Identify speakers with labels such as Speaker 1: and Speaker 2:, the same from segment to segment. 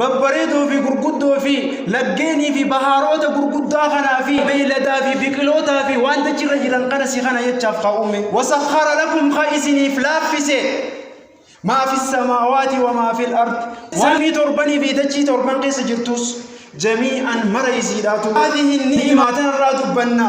Speaker 1: babbareedoo fi gurguddoo fi laggeenii fi bahaaroota gurguddaa kanaa fi beeyladaa fi biqilootaa fi waan dachirra jiran kana si kana jechaaf ka uume wasakhara lakum ka isiniif laaffise maa fi samaawaati wa maa fi al-ard samii torbanii fi dachii torban keessa jirtus jamii'an mara isiidhaatu haadihi ni'imaa tanarraa dubbanna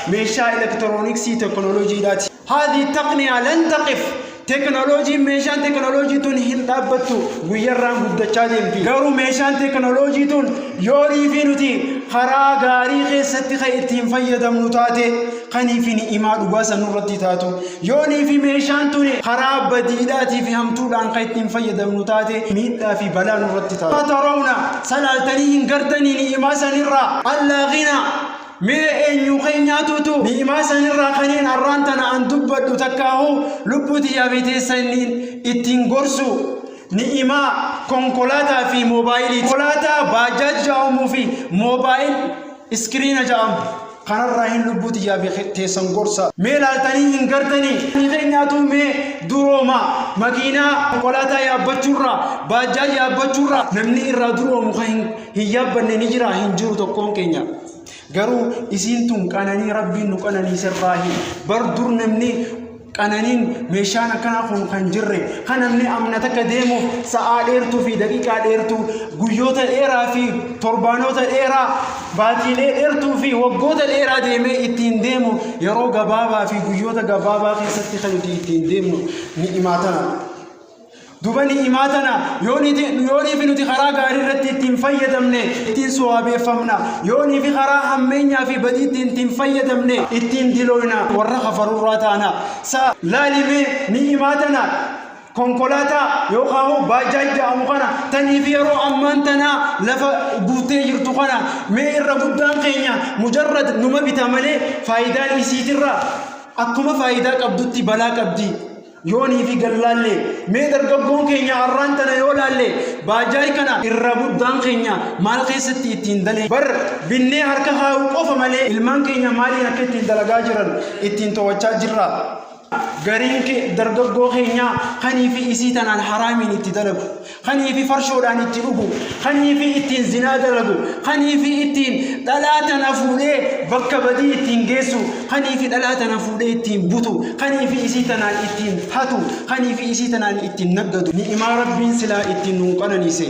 Speaker 1: meeshaa elektirooniksii teknooloojiidhaati. Haadhi taqniyaa lan taqif teknooloojiin meeshaan teknooloojii tun hin dhaabbattu guyyarraan guddachaa deemti. Garuu meeshaan teknooloojii tun yoo riifii nuti karaa gaarii keessatti kan ittiin fayyadamnu taate kanii fi ni'imaa dhugaa san nurratti taatu. Yoo niifi meeshaan tun karaa badiidhaatii fi hamtuudhaan kan ittiin fayyadamnu taate miidhaa fi balaa nurratti taatu. Tarawna salaaltanii hin gardanii ni'imaa sanirraa allaa ghinaa Mee eenyuu keenyaatuutu ni'imaa sanirraa kaniin har'aan tana an dubbadhu takkaahu lubbuu tiyyaa fi teessa inni ittiin gorsu ni'imaa konkolaataa fi moobaayilii konkolaataa baajaaj ja'amuu fi moobaayil iskiriina ja'amu kanarraa hin lubbuu tiyyaa fi teessan gorsa mee laaltanii hin gartanii keenyaatu mee durooma makiinaa konkolaataa yaabbachuurraa baajaaj yaabbachuurraa namni irraa duroomu kan hin Hin yaabbanne ni jira hin jiru tokkoon keenya. Garuu isiin tun qananii rabbiin nu qananiiserraa hin bar dur namni qananiin meeshaan akkanaa kun kan jirre kan namni amna takka deemuuf sa'aa dheertuu fi daqiiqaa dheertuu guyyoota dheeraa fi torbaanoota dheeraa baatiilee dheertuu fi waggoota dheeraa deemee ittiin deemu yeroo gabaabaa fi guyyoota gabaabaa keessatti kan nuti ittiin deemnu ni imaatana. Duba ni'imaa tana yoo niifi nuti karaa gaarii irratti ittiin fayyadamne ittiin sowaabeeffamna. Yoo niifi karaa hammeenyaa fi badii ittiin ittiin fayyadamne ittiin dilooyna warra kafarurraa taana. Sa laalimee ni'imaa tana konkolaataa yookaan immoo baajaaj jedhamu kana taniif yeroo ammaan tanaa lafa guuttee jirtu kana mee irra guddaan keenya mujarrad numa bita malee faayidaan isiitirra akkuma faayidaa qabdutti balaa qabdi. Yoonii fi gallaallee mee dargaggoon keenya har'aan tana yoo laalle baajaayi kana irra guddaan keenya maal keessatti ittiin dalee bar binnee harka kaa'uu qofa malee ilmaan keenya maaliin akka ittiin dalagaa jiran ittiin to'achaa jirra. Gariin dargaggoo keenyaa kanii fi isii tanaan haraamiin itti dalagu. kanii fi farshoodhaan itti dhugu, kanii fi ittiin zinaa dalagu, kanii fi ittiin dhalaa tana fuudhee bakka badii ittiin geessu, kanii fi dhalaa tana fuudhee ittiin butu, kanii fi isii tanaan ittiin hatu, kanii fi isii tanaan ittiin naggadu. Ni'imaa Rabbiin silaa ittiin nuun qananiise.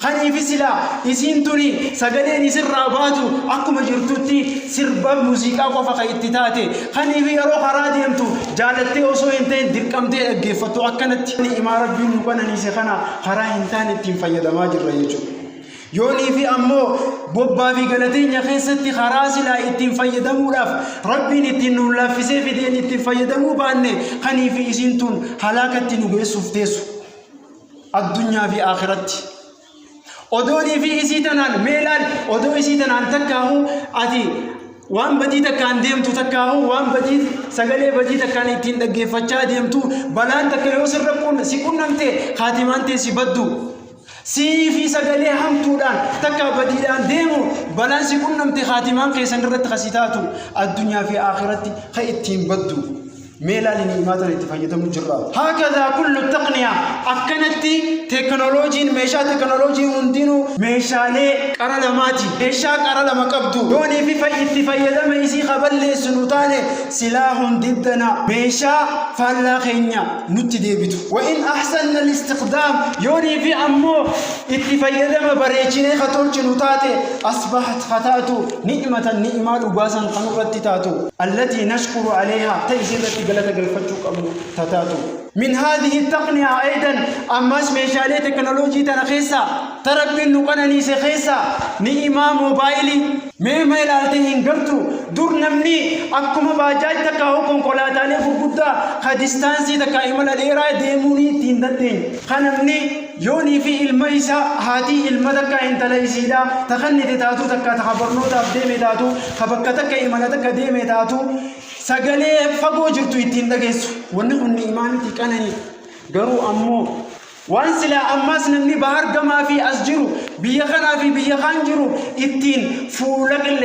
Speaker 1: Kanii fi silaa isiin tuni sagaleen isirraa baatu akkuma jirtutti sirba muuziqaa qofa kan itti taate, kanii fi yeroo karaa deemtu Jaalattee osoo hin ta'in dirqamtee dhaggeeffattu akkanatti ni'imaa Rabbiin nu qananiise kana karaa hin taane ittiin fayyadamaa jirra jechuudha. Yoonii fi ammoo bobbaa fi galateenya keessatti karaa silaa ittiin fayyadamuudhaaf Rabbiin ittiin nu laaffisee fideen ittiin fayyadamuu baanne kanii fi isiin tun halaakatti nu geessuuf teessu. Addunyaa fi akhiratti. Odoonii fi isii tanaan mee laal odoo isii tanaan takkaahu ati waan badii takkaan deemtu takkaahu waan badii sagalee badii takkaan ittiin dhaggeeffachaa deemtu balaan takka yoo sirra qun si qunnamte kaatimaan tee si baddu. Siinii fi sagalee hamtuudhaan takka badiidhaan deemu balaan si qunnamte kaatimaan keessan irratti kasi taatu addunyaa fi aakiratti ka ittiin baddu. Mee ilaali ni'imaa tana itti fayyadamu jirra. Haakadhaa kullu taqniyaa akkanatti teekinooloojiin meeshaa teekinooloojii hundinuu meeshaalee qara lamaati. Meeshaa qara lama qabdu yoonii fi fay- itti fayyadama isii ka balleessu nu taane silaa hundiddana meeshaa faallaa keenya nutti deebitu. Wa in ahsanna listiqdaam yoonii fi ammoo itti fayyadama bareechinee ka tolchinu taate asbahat ka taatu Ni'ima tan ni'imaa dhugaa san ta nurratti taatu. Allatii nashkuru aleyhaa ta isiirratti galata galfachuu qabnu ta taatu. Min haadhihi attaqniyaa aydan ammaas meeshaalee teknolojii tana keessaa ta Rabbiin nu qananiise keessaa ni'imaa moobaayilii. Mee ma ilaaltee hin gartu? Dur namni akkuma baajaaj takkaahuu konkolaataalee gurguddaa ka distaansii takkaa imala dheeraa deemuu ni itti hin dandeenye. Ka namni. Yoonii fi ilma isaa haatii ilma takkaa intala isiidhaa ta kannite taatuu takkaa ta ka barnootaaf deeme taatuu ka bakka takka imala takka deeme taatuu sagalee fagoo jirtu ittiin dhageessu wanni kun ni'imaanitii qananii garuu ammoo waan silaa ammaas namni bahar gamaa fi as jiru biyya kanaa fi biyya kaan jiru ittiin fuula qilleensa